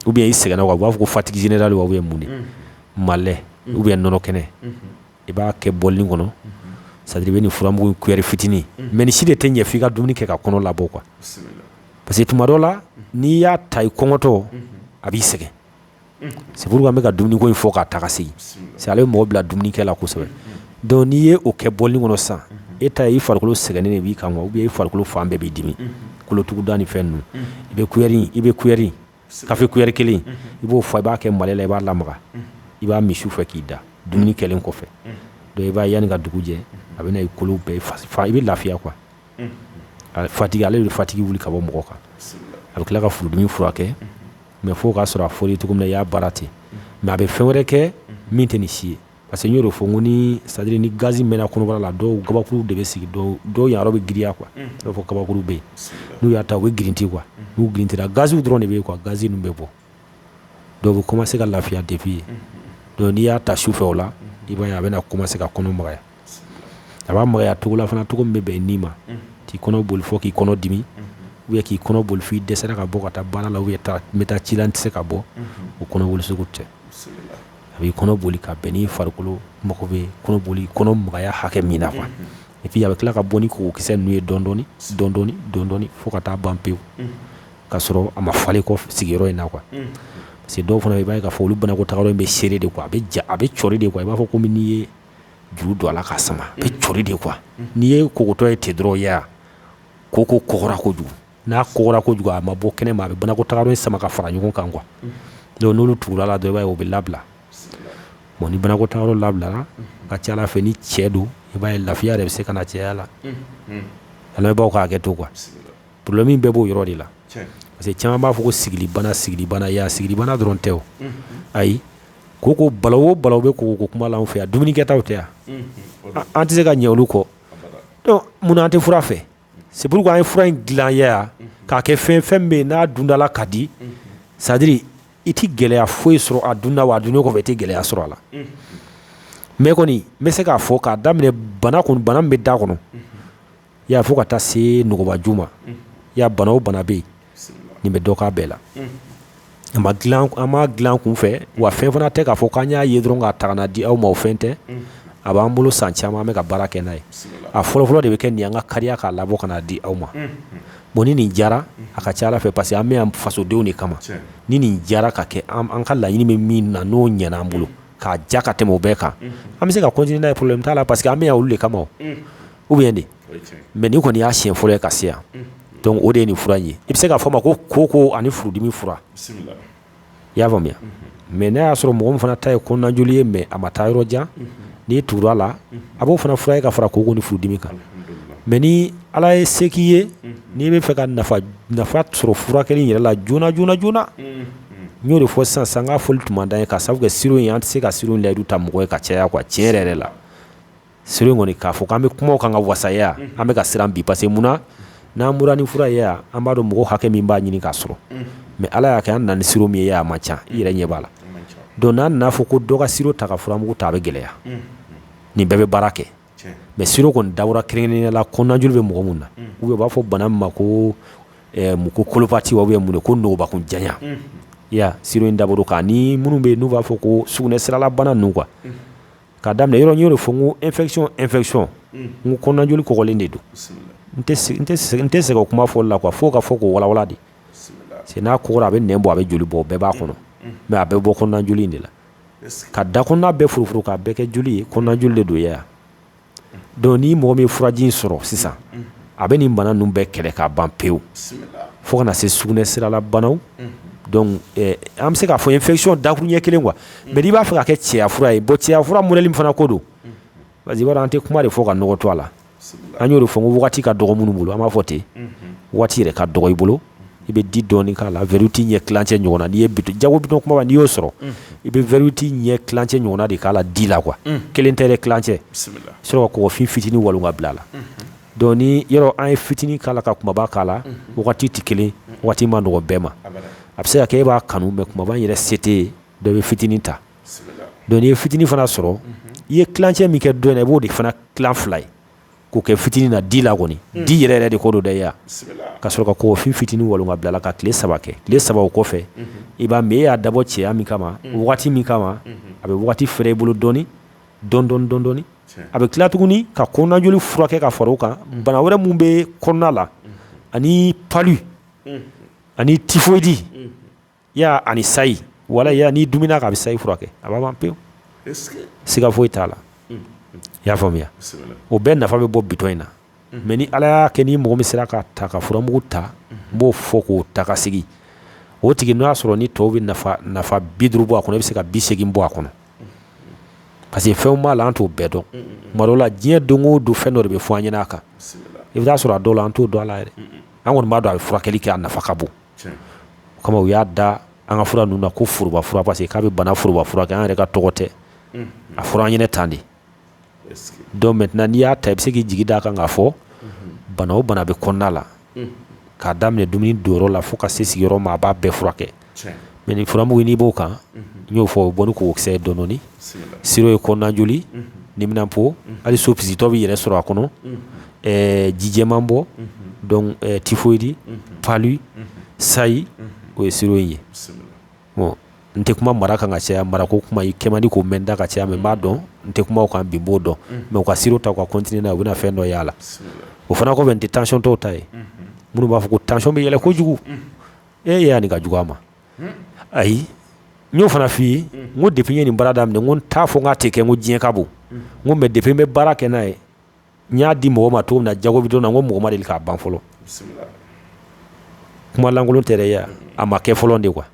o bɛ i sɛgɛn u b'a fɔ ko fatigue générale u bɛ mun mali lait u bɛ nɔnɔ kɛnɛ i b'a kɛ bɔlinin kɔnɔ c'est-à-dire i bɛ nin furamugu kuyɛri fitinin mais nin si de tɛ ɲɛ f'i ka dumuni kɛ ka kɔnɔ labɔ quoi parce que tuma dɔ la n'i y'a ta i kɔngɔtɔ a b'i sɛgɛn c'est pourquoi an bɛ ka dumuni ko in fɔ ka taga segin ale bɛ mɔgɔ bila dumunikɛ la kosɛbɛ donc n'i ye o kɛ bɔlinin kɔnɔ c'est-à-dire i farikolo sɛgɛnnen de b'i kan u b' e farikolo fan bɛɛ b'i dimi kolotuguda ni fɛn i bɛ i bɛri kafe kuyɛri kelen i b'o fa i b'a kɛ mali lait la i b'a la i b'a min su fɛ k'i da dumuni kɛlen kɔfɛ i b'a ye yanni ka dugu jɛ a bɛ i kolo bɛɛ i bɛ lafiya quoi a fatigue ale bɛ fatigue wuli ka bɔ mɔgɔ kan a bɛ tila ka furudimi furakɛ kɛ mais fo k'a sɔrɔ a fɔra i ye cogo min i y'a baara ten mais a bɛ fɛn wɛrɛ kɛ min tɛ nin si ye parce que y'o fɔ ko ni c'est-à-dire ni gaz mɛnna kɔnɔbara la dɔw kabakuru de bɛ sigi dɔw ya bɛ ja quoi i b'a fɔ kabakuru bɛ yen n'u y'a ta u bɛ girinti quoi n'u girintira gazw dɔrɔn de bɛ yen quoi gaz ninnu bɛ bɔ dɔw bɛ kɔmanse ka lafiya depuis ye donc n'i y'a ta su fɛ o la i b'a ye a bɛna na kɔmanse ka kɔnɔ magaya a b'a magaya cogo la fana cogo min bɛ bɛn i ma k'i kɔnɔ boli fo k'i kɔnɔ dimi ou k'i kɔnɔ boli f'i dɛsɛra ka bɔ ka taa baara la u bɛ taa ci tɛ se ka bɔ u kɔnɔ wuli segu cɛ a b'i kɔnɔ boli ka bɛn n'i farikolo mɔgɔ bɛ kɔnɔ boli kɔnɔ magaya hakɛ min na quoi et puis a bɛ tila ka bɔ ni kokisɛ ninnu ye dɔɔnin dɔɔnin dɔɔnin fo ka taa ban pewu ka sɔrɔ a ma falen kɔ sigiyɔrɔ in na quoi parce que dɔw fana i b'a ye k'a fɔ olu banakɔtaa in bɛ serré de quoi a bɛ a bɛ c de quoi i b'a fɔ ko ye juru don a la k'a sama a bɛ cɔri de quoi n'i ye kokotɔ ye ten dɔrɔn ya koko kɔgɔra kojugu n'a kɔgɔra kojugu a ma bɔ kɛnɛ ma a bɛ banakɔtagayɔrɔ in sama ka fara ɲɔgɔn kan quoi donc n'olu tugura la dɔrɔn i b'a ye o bɛ labila bon ni banakɔtagayɔrɔ labilara ka ca ala fɛ ni cɛ don i b'a ye lafiya yɛrɛ bɛ se ka na cɛya la lamɛnbaaw ka hakɛ to quoi problème bɛɛ b'o yɔrɔ de la parce que caman b'a fɔ ko sigili bana sigili bana yan sigili bana dɔrɔn tɛ ayi koko b'a la o b'a la bɛ koko kuma fɛ yan dumunikɛta tɛ yan an tɛ se ka ɲɛ olu kɔ munna an tɛ fura fɛ segu an ye fura in dilanya k'a kɛ fɛn fɛn bɛ n'a duntɔla ka di c'est-à-dire i tɛ gɛlɛya foyi ye sɔrɔ a duntɔ wa a dun kɔ i tɛ gɛlɛya sɔrɔ a la mais kɔni n bɛ se k'a fɔ k'a daminɛ bana o bana bɛ da kɔnɔ i y'a fo ka taa se nogobaju ma i y'a bana o bana bɛ yen nin bɛ dɔ kɛ a bɛɛ la an m'a dilan kun fɛ wa fɛn fana tɛ k'a fɔ k'an y'a ye dɔrɔn ka ta di aw ma o fɛn tɛ a b'an bolo san caman bɛ ka baara kɛ n'a ye a fɔlɔfɔlɔ de bɛ kɛ nin an ka kari k'a labɔ k'a di aw ma bon ni nin jara a ka ca ala fɛ parce que an bɛ fasodenw de kama ni nin jara ka kɛ an ka laɲini bɛ min na n'o ɲana an bolo k'a ja ka tɛmɛ o bɛɛ kan an bɛ se ka kɔn n'a ye fɔlɔ bɛ taa la parce que an b'aw de kama u bɛ de mais nin kɔni y'a siɲɛ fɔlɔ ye ka se yan donc o de ye nin fura ye i bɛ se k'a fɔ a ma ko koko ani furudimi fura i y'a faamuya mais n'a y'a sɔrɔ mɔgɔ fana ta ye kɔnɔja ye mais a ma taa yɔrɔ jan n'i tugu a la a b'o fana furakɛ ka fara koko ni furudimi kan mais ni ala ye se ye n'i bɛ fɛ ka nafa sɔrɔ furakɛ kelen yɛrɛ la joona joona joonana n'o de fɔ san san foli tun da ye ka sababu kɛ siro in an tɛ se ka siro layidu ta mɔgɔ ye ka caya ka cɛ yɛrɛ yɛrɛ la siro kɔni k'a fɔ k'an bɛ kuma kan ka wasaya an bɛ ka siran bi parce mun na n'an bɔra ni fura ye an b'a dɔn mɔgɔ hakɛ min b'a ɲini k'a sɔrɔ mais ala y'a kɛ an nana ni siro min ye a ma ca i yɛrɛ ɲɛ b'a la donc n'a n'a fɔ ko dɔ ka siro ta ka furamugu ta a bɛ gɛlɛya nin bɛɛ bɛ baara kɛ mais siro kɔni da kɛrɛnkɛrɛnnenya la kɔnɔja bɛ mɔgɔ min na u bɛ b'a fɔ bana ma ko mu colopathie bɛ mun ko nogoba kun janyan i siro in dabɔ kan ni minnu bɛ yen n'u b'a fɔ ko sugunɛ siralabana ninnu quoi ka daminɛ yɔrɔ yɔrɔ fo ko infection infection n kɔnɔnajoli kɔgɔlen de don n tɛ se o kuma fɔ la k'a fɔ ka fɔ ko wawa de sen n'a kɔgɔra a bɛ nɛn bɔ a bɛ joli bɔ bɛɛ b'a kɔnɔ mais a bɛ bɔ kɔnɔnajoli de la ka da ko n'a bɛ furu k'a bɛɛ kɛ joli ye kɔnɔnajoli de don yan donc ni mɔgɔ min furaji in sɔrɔ sisan a bɛ nin bana ninnu bɛɛ kɛlɛ ka ban pewu fo ka na se sugunɛ siralabanaw donc an bɛ se k'a fɔ infection dakun ɲɛ kelen wa mais n'i b'a fɛ ka kɛ cɛya fura ye bon cɛya fura minni fana ko don parce que an tɛ kuma de fɔ ka nɔgɔ to a la an y'o fɔ ko waati ka dɔgɔ minnu bolo an b'a fɔ ten waati yɛrɛ ka dɔgɔ i bolo i bɛ di dɔɔnin k'a la verre te ɲɛ tilancɛ ɲɔgɔn na n'i ye jago bitɔn kuma n'i y'o sɔrɔ i bɛ verre te ɲɛ tilancɛ ɲɔgɔn de k'a la di la qu kelen tɛ tilancɛ sɔrɔ kɔgɔfin fitinin wali ka bila a la Don yɔrɔ an ye fitinin k'a la ka kunbaba k'a la waati tɛ kelen waati man nɔgɔ bɛɛ ma a bɛ se ka e b'a kanu mɛ kunbaba yɛrɛ sete dɔ bɛ fitinin ta don ye fitinin fana sɔrɔ i ye ticɛ min kɛ dɔn i b'o de fana kɛ fila ye k'o kɛ fitinin na di la kɔni di yɛrɛ yɛrɛ de ko don da yan ka sɔrɔ ka ko fi fitinin wali k'a bila ka tile saba kɛ tile saba o kɔfɛ i b'a min e y'a dabɔ cɛya min kama waati min kama a bɛ waati fɛ i bolo dɔɔnin dɔɔnin dɔɔnin dɔɔnin dɔɔnin a bɛ tila tuguni ka kɔnɔnajoli furakɛ ka fara o kan bana wɛrɛ minnu bɛ kɔnɔna la ani palu ani tifoyidi ya ani sayi wala yan ni dumuni ka bɛ sayi furakɛ a b'a ban pewu siga foyi t'a la i y'a faamuya o bɛɛ nafa bɛ bɔ bitɔn in na mɛ ni ala y'a kɛ ni mɔgɔ min sera ka taa ka furamugu ta n b'o fɔ k'o ta ka sigi o tigi n'o y'a sɔrɔ ni tɔw bɛ nafa bi duuru bɔ a kɔnɔ i bɛ se ka bi seegin bɔ a kɔnɔ parce que fɛn b'a la an t'o bɛɛ dɔn tuma la diɲɛ don o don fɛn dɔ de bɛ fɔ an ɲɛna a kan i b'a sɔrɔ a dɔw la an t'o dɔn ala yɛrɛ an kɔni b'a dɔn a bɛ furakɛli kɛ a nafa ka bon o y'a da an ka fura ninnu ko foroba fura parce que k'a bɛ bana foroba furakɛ an yɛrɛ ka tɔgɔ tɛ a fɔra an ɲɛna tan de donc maintenant n'i y'a ta i bɛ se k'i jigi da a kan ka fɔ bana o bana bɛ kɔnɔna la k'a daminɛ dumuni don la fo ka se sigiyɔrɔ ma a b'a bɛɛ furakɛ mɛ nin furamugu n'i b'o kan n y'o fɔ bɔ k'osɛ dɔɔnin siro ye kɔnɔnajoli ni bɛpo hali sopisitɔ bɛ yɛrɛ sɔrɔ a kɔnɔ jijɛman bɔ tifoyidi palu sayi o ye siro in ye n tɛ kuma mara ka ka caya mara ko kuma i kɛ di ko mɛn da ka caya mɛ b'a dɔn n tɛ kuma kan bɛɛ b'o dɔn mɛ u ka sira ta ka cotigi na u bɛna na fɛn dɔ yala la o fana ko n tɛ tansiyɔntɔ ta ye minnu b'a fɔ ko tansiyɔn bɛ yɛlɛ kojugu e y'a nin ka jugu a ma ayi n y'o fana f fɔ i ye ko depuis n ye nin baara daminɛ ko n t'a fɔ n'a tɛ kɛ ko diɲɛ ka bon n mɛ de bɛ baara kɛ n'a ye n y'a di mɔgɔ ma k'o min jago bitɔn na ko mɔgɔ ma deli k'a ban fɔlɔ kumalankolon tɛ yan a ma kɛ fɔlɔ de quoi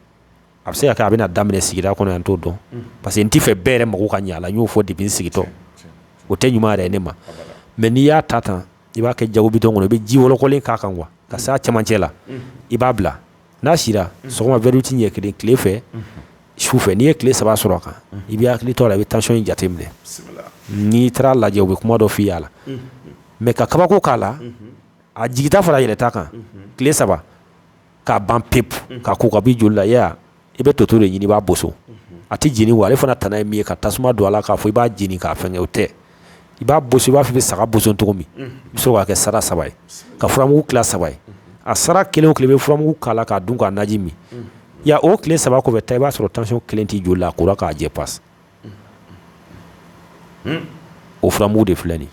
a bɛ se ka a bɛna na daminɛ sigi kɔnɔ yan don dɔ parce que n t'a fɛ bɛɛ mɔgɔ ka ɲɛ la y'o fɔ de bɛ sigitɔ o tɛ ɲuman yɛrɛ ne ma mɛ n'i y'a ta tan i b'a kɛ jago bitɔn kɔnɔ i bɛ ji wɔlɔkɔlen k'a kan wa ka se a cɛmancɛ la i b'a bila N'a sera sɔgɔma wɛri ɲɛ kelen tile fɛ su fɛ n'i ye tile saba sɔrɔ a kan i b'i hakili to a la i bɛ tɛsi in jate minɛ n'i taara lajɛ u bɛ kuma dɔ fɔ i ye a la mɛ ka kabako k'a la a jiginta fara yɛlɛta kan tile saba k'a ban pewu k'a ko ka bɔ i joli la i bɛ toto de ɲini i b'a boso a tɛ jeni wa ale fana t n' ye min ye ka tasuma don a la k'a fɔ i b'a jeni k'a fɛn o tɛ i b'a boso i b'a fɔ i bɛ saga boso cogo min bɛ se k'a kɛ sara saba ye ka furamugu kɛ saba ye a sara kelen o kelen bɛ furamugu k'a la k'a dun k'a naji min ya o tile saba bɛ ta i b'a sɔrɔ tansiyɔn kelen t'i joli la ko k'a jɛ pas o furamugu de filɛ nin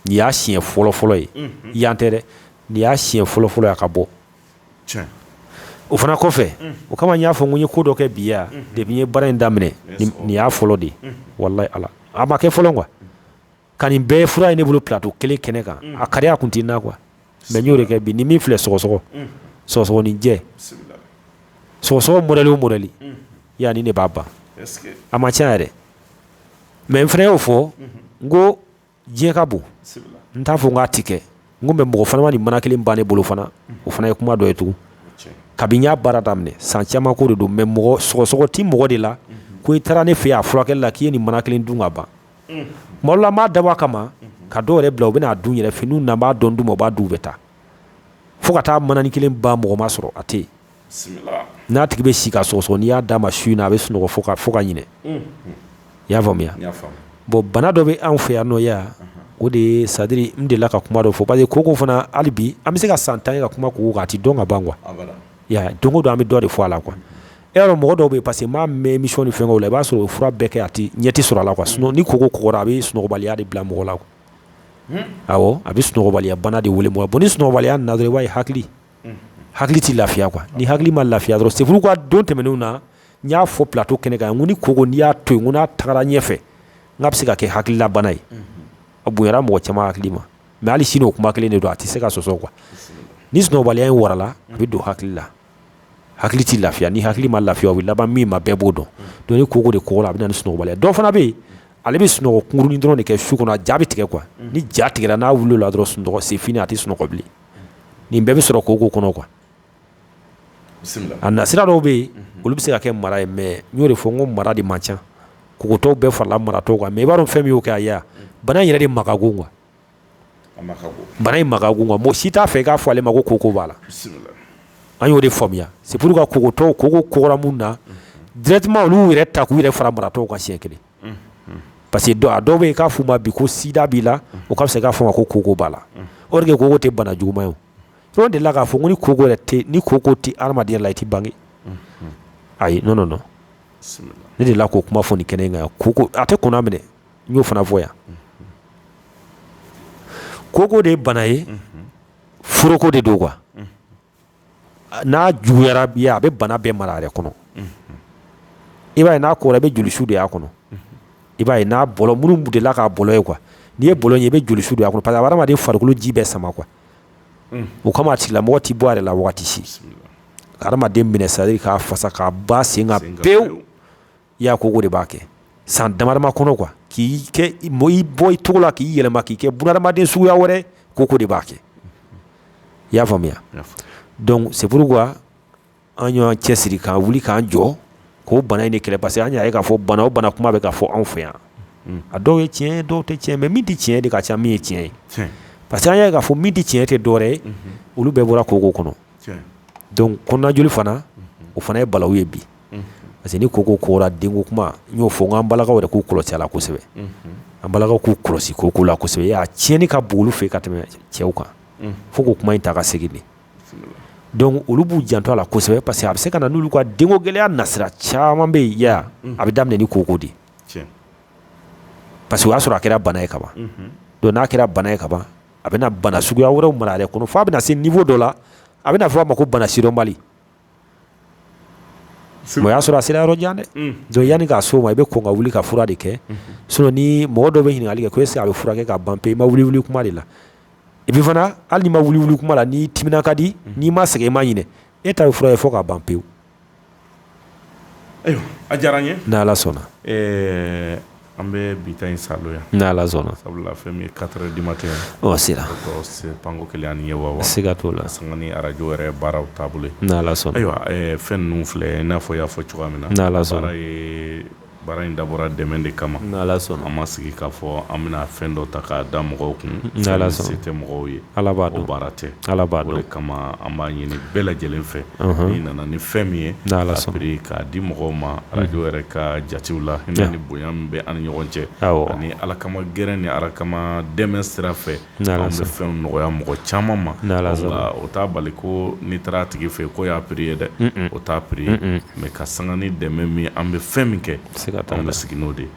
y'a siɲɛ fɔlɔfɔlɔ ye yan tɛ dɛ nin y'a siɲɛ fɔlɔfɔlɔ ye ka bɔ o fana kɔfɛ o kama y'a fɔ n ye ko dɔ kɛ bi depuis n ye baara in daminɛ nin y'a fɔlɔ de walayi a ma kɛ fɔlɔ kuwa ka nin bɛɛ fura ye ne bolo plateau kelen kɛnɛ kan a ka a tun' na kuwa mɛ y'o kɛ bi ni min filɛ sɔgɔsɔgɔ sɔgɔsɔgɔninjɛ sɔgɔsɔgɔ modɛli modɛli manani de b'a ban a ma ca yɛrɛ mɛ n fana y'o fɔ n ko diɲɛ ka bon n t'a fɔ n k'a tɛ kɛ n ko mɛ mɔgɔ fana ma nin mana kelen ban ne bolo fana o fana ye kuma dɔ ye tugun kabi y'a baara daminɛ san caman ko de don mɛ mɔgɔ sɔgɔsɔgɔ tɛ mɔgɔ de la ko i taara ne fɛ y'a furakɛ la k'i ye nin mana kelen dun ka ban mɔgɔla da kama ka dɔw yɛrɛ bila u bɛn'a dun yɛrɛ fini na b'a dɔn dun b'a dun bɛ taa fo ka taa mana in kelen ban mɔgɔ ma sɔrɔ a tɛ yen n'a tigi bɛ si ka sɔgɔsɔgɔ n'i y'a d'a ma su in na a bɛ sunɔgɔ fo fo ka ɲinɛ i y'a faamuya bon bana dɔ bɛ anw fɛ yan n'o ye o de ye c'est-à-dire n de la ka kuma dɔ fɔ basi koko fana hali bi an bɛ se ka san tan ka kuma ko a tɛ dɔn ka ban kuwa don o don an bɛ dɔ de fɔ a la kuwa e y'a mɔgɔ dɔw bɛ yen parce que maa mɛ misi ni fɛn la i b'a sɔrɔ o fura bɛɛ kɛ a ɲɛ tɛ sɔrɔ a la ka sun ni koko ko a bɛ sunɔgɔbaliya de bila mɔgɔ la a bɛ sunɔgɔbaliya bana de wele bɔ bon ni sunɔgɔbaliya nana dɔrɔn i b'a hakili hakili tɛ lafiya kuwa ni hakili ma lafiya dɔrɔn segu ka don tɛmɛnenw na n y'a fɔ plateau kɛnɛ kan ni kogo n'i y'a to yen ko n'a taara ɲɛfɛ n'a bɛ se ka kɛ hakililabana ye a bon mɔgɔ caman hakili ma mɛ hali sini o kuma kelen de don a tɛ se ka sɔsɔ kuwa ni sunɔgɔbaliya in warala a bɛ don hakili la hakili tɛ lafiya ni hakili ma lafiya o bɛ laban min ma bɛɛ b'o dɔn don ni kogo de ko a bɛ ni sunɔgɔbaliya dɔ fana bɛ yen ale bɛ sunɔgɔ kunkurun dɔrɔn de kɛ su kɔnɔ ja bɛ tigɛ kuwa n'i ja tigɛ n'a wilila dɔrɔn sunɔgɔ c'est fini a tɛ sunɔgɔ bilen nin bɛɛ bɛ sɔrɔ kogo kɔnɔ kuwa a nasira dɔw bɛ yen olu bɛ se ka kɛ mara ye mɛ n y'o de fɔ n ko mara de man ca kogotɔ bɛɛ farala mara tɔgɔ kan mɛ i b'a dɔn fɛn y'o kɛ a yan bana yɛrɛ de man go kuwa bana in mɔgɔ si t'a fɛ i k'a fɔ ale ma ko koko b'a la an y'o de faamuya seuru ka kogotɔ kogo komu na dti olu yɛrɛ taa k'u yɛrɛ fara maratɔ kan si kelen parce que a dɔw bɛ k'a f'u ma bi ko sida b'i la o ka fisa k'a f'a ma ko kogo b'a la or que kogo tɛ bana juguba ye ne de la k'a fɔ ko ni kogo ni koko tɛ hadamaden la i tɛ bange ayi non non ne de la k'o kuma fɔ nin kɛnɛ in kan yan ko a tɛ kɔnɔ minɛ n y'o fana fɔ yan kogo tɛ bana ye foroko de don N'a juguyara bi a bɛ bana bɛɛ mara yɛrɛ kɔnɔ i b'a ye n'a kɔgɔra i bɛ jolisu de y'a kɔnɔ i b'a ye n'a bɔ muru de la k'a bolo ye kuwa n'i ye bolo ye i bɛ jolisu de ye a bɛ adamaden farikolo ji bɛɛ sama kuwa o kama a tigilamɔgɔ tɛ bɔ a yɛrɛ la waati si ka adamaden minɛ sari k'a fasa k'a ban sen kan pewu I y'a ko de b'a kɛ san dama kɔnɔ kuwa k'i bɔ i cogo la k'i yɛlɛma k'i kɛ bunadamaden suguya wɛrɛ koko de b'a kɛ i y'a faamuya dɔnku segu ga an ɲɔgɔn cɛ siri ka wuli k'an jɔ ko bana in ni kɛlɛ parce que an y'a fɔ bana o bana kuma bɛ ka fɔ anw fɛ yan a dɔw ye tiɲɛ dɔw tɛ tiɲɛ mɛ min tɛ tiɲɛ de ka ca min ye tiɲɛ ye parce que an y'a fɔ min tɛ tiɲɛ tɛ dɔwɛrɛ ye olu bɛɛ bɔra koko kɔnɔ kɔnɔnaja fana o fana ye bana ye bi parce que ni koko kɔgɔra denko kuma n'o fɔ k'an balakaw yɛrɛ k'u kɔlɔsi a la kosɛbɛ an balakaw k'u kɔlɔsi koko la kosɛbɛ y'a tiɲɛn ka bolo fɛ ka tɛmɛ cɛw kan fo ko kuma in ta ka segin de dɔnku olu b'u janto a la kosɛbɛ parce que a bɛ se ka na n'olu ka den gɛlɛya nasira caman bɛ yen ya a bɛ daminɛ ni koko de parce que o y'a sɔrɔ a kɛra bana ye kaban don n'a kɛra bana ye kaban a bɛna bana suguya wɛrɛ mara a yɛrɛ kɔnɔ fo a bɛna se niveau dɔ la a bɛna fɔ a ma ko bana sidɔnbali O y'a sɔrɔ a sera yɔrɔ jan dɛ yanni k'a se o ma i bɛ kɔn ka wuli ka fura de kɛ ni mɔgɔ dɔ bɛ ɲininkali kɛ ko est-ce a bɛ furakɛ k'a ban pe i ma wuli wuli kuma de la i bɛ fana hali n'i ma wuli wuli kuma la n'i timinan ka di n'i ma sɛgɛn i ma ɲinɛ e ta bɛ furakɛ fo k'a ban pewu ayiwa a diyara n ye sɔnna An bɛ bi ta in sa yan n' ala sɔnna sabula fɛn min ye quatre heures du matin ye an sera panko kelen ani ye wa se ka t'o la san ni arajo yɛrɛ baaraw taabolo n' ala sɔnna ayiwa fɛn ninnu filɛ n'a fɔ y'a fɔ cogoya min na n' ala sɔnna ye baara in dabɔra dɛmɛ de kama n' ala sɔnna an ma sigi k'a fɔ an bɛna fɛn dɔ ta k'a da mɔgɔw kun n ala se tɛ mɔgɔw ye Ala b'a dɔn baara tɛ o de kama an b'a ɲini bɛɛ lajɛlen fɛ n'i nana ni fɛn min ye n' ala sɔrɔ k'a di mɔgɔw ma arajo yɛrɛ ka jatew la ani bonya min bɛ an ni ɲɔgɔn cɛ ani ala kama gɛrɛ ni ala kama dɛmɛ sira fɛ an bɛ fɛn nɔgɔya mɔgɔ caman ma o t'a bali ko n'i taara a tigi fɛ yen k'o y'a prix ye dɛ o t'a prix mɛ ka sanga ni dɛmɛ min an bɛ fɛn min kɛ se ka taa an ka sigi n'o de ye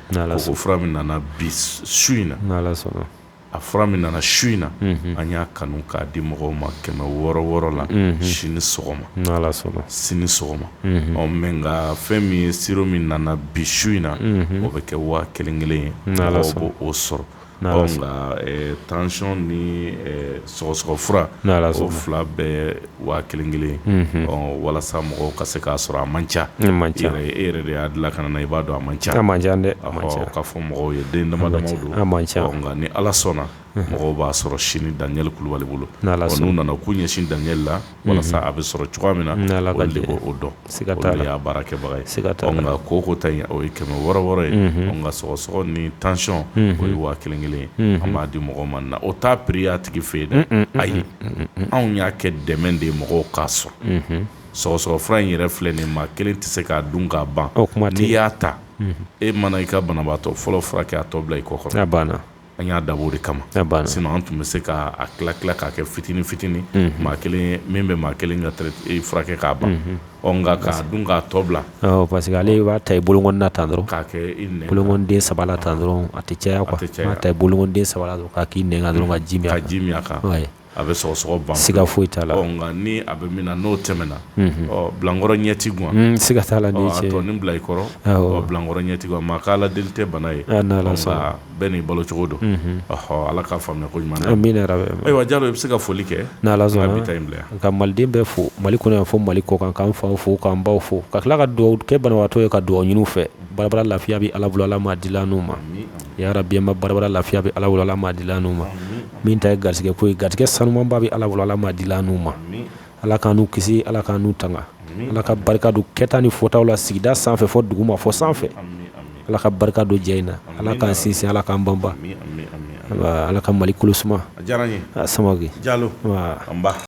ko fura min nana bi su in na n' ala sɔnna a fura min nana su in na an y'a kanu k'a di mɔgɔw ma kɛmɛ wɔɔrɔ wɔɔrɔ la sini sɔgɔma sini sɔgɔma ɔ mɛ nka fɛn min ye siro min nana bi su in na o bɛ kɛ waa kelen kelen ye i b'o sɔrɔ nka tension ni sɔgɔsɔgɔ fura fila bɛɛ waa kelen kelen walasa mɔgɔw ka se k'a sɔrɔ a man ca man ca e yɛrɛ de y'a dilan ka na i b'a dɔn a man ca a man ca dɛ a k'a fɔ mɔgɔw ye den dama don a man ca nka ni ala sɔnna mɔgɔw b'a sɔrɔ sini daniɛli kulubali bolo n'u nana k'u ɲɛsin daniɛli la walasa a bɛ sɔrɔ cogoya min na de o dɔn se ka taa y'a baarakɛbaga ye se ka taa nka koko ta o ye kɛmɛ wɔɔrɔ wɔɔrɔ ye nka sɔgɔsɔgɔ ni tansiyɔn o ye waa kelen kelen ye an b'a di mɔgɔ ma na o t'a prix ye a tigi fɛ yen dɛ ayi anw y'a kɛ dɛmɛ de ye mɔgɔw k'a sɔrɔ sɔgɔsɔgɔ fura in yɛrɛ filɛ nin maa kelen tɛ se k'a dun k'a ban o kuma n'i y'a ta e mana i ka banabaatɔ fɔlɔ furakɛ k'a tɔ bila i kɔkɔrɔ banna an y'a dabɔ o de kama banna sinon an tun bɛ se k'a tila tila k'a kɛ fitinin fitinin maa kelen min bɛ maa kelen ka furakɛ k'a ban ɔ nka k'a dun k'a tɔ bila awɔ parce que ale i b'a ta i boloŋɔni na tan dɔrɔn k'a kɛ i nɛn boloŋɔniden 3 la tan dɔrɔn a tɛ caya quoi a tɛ caya i b'a ta i boloŋɔniden 3 la dɔrɔn k'a k'i nɛn kan dɔrɔn ka ji min a kan ka ji min a kan ouais a bɛ sɔgɔsɔgɔ ban siga foyi t'a la ɔ nka ni a bɛ min na n'o tɛmɛna unhun ɔ bilankɔrɔ ɲɛ ti guwan uun siga t'a la nin ye tiɲɛ ye ɔ a tɔnin bila i kɔrɔ awɔ ɔ bilankɔrɔ ɲɛ ti guwan maa ka Ala deli tɛ bana ye a n'Ala sɔnna ɔ nkaa bɛɛ n'i balo cogo don ɔhɔ Ala k'a faamuya ko ɲuman amina yarabi amina ayiwa Jalo i bɛ se ka foli kɛ ni Ala sɔnna an ka bi ta in bila yan ka Maliden bɛɛ fo Mali kɔnɔ yan fo Mali kɔkan k'an faw fo k'an baw fo ka tila ka dugawu kɛ banabagatɔw ye ka dugawu ɲini u fɛ barabara lafiya bɛ Ala bolo Ala m'a dila an n'u ma yarabi an bɛ barabara lafiya bɛ Ala bolo Ala m'a dila an n'u ma min ta ye garisigɛ ko ye garijɛgɛ sanumanba bɛ Ala bolo Ala m'a dila an n'u ma. Ala k'an n'u kisi ala k'an n'u tanga ala ka barika don kɛta ni fɔta la sigida sanfɛ fo duguma fo sanfɛ ala ka barika don jɛ in na ala k'an sinsin ala k'an banba ala ka mali kolo suma sama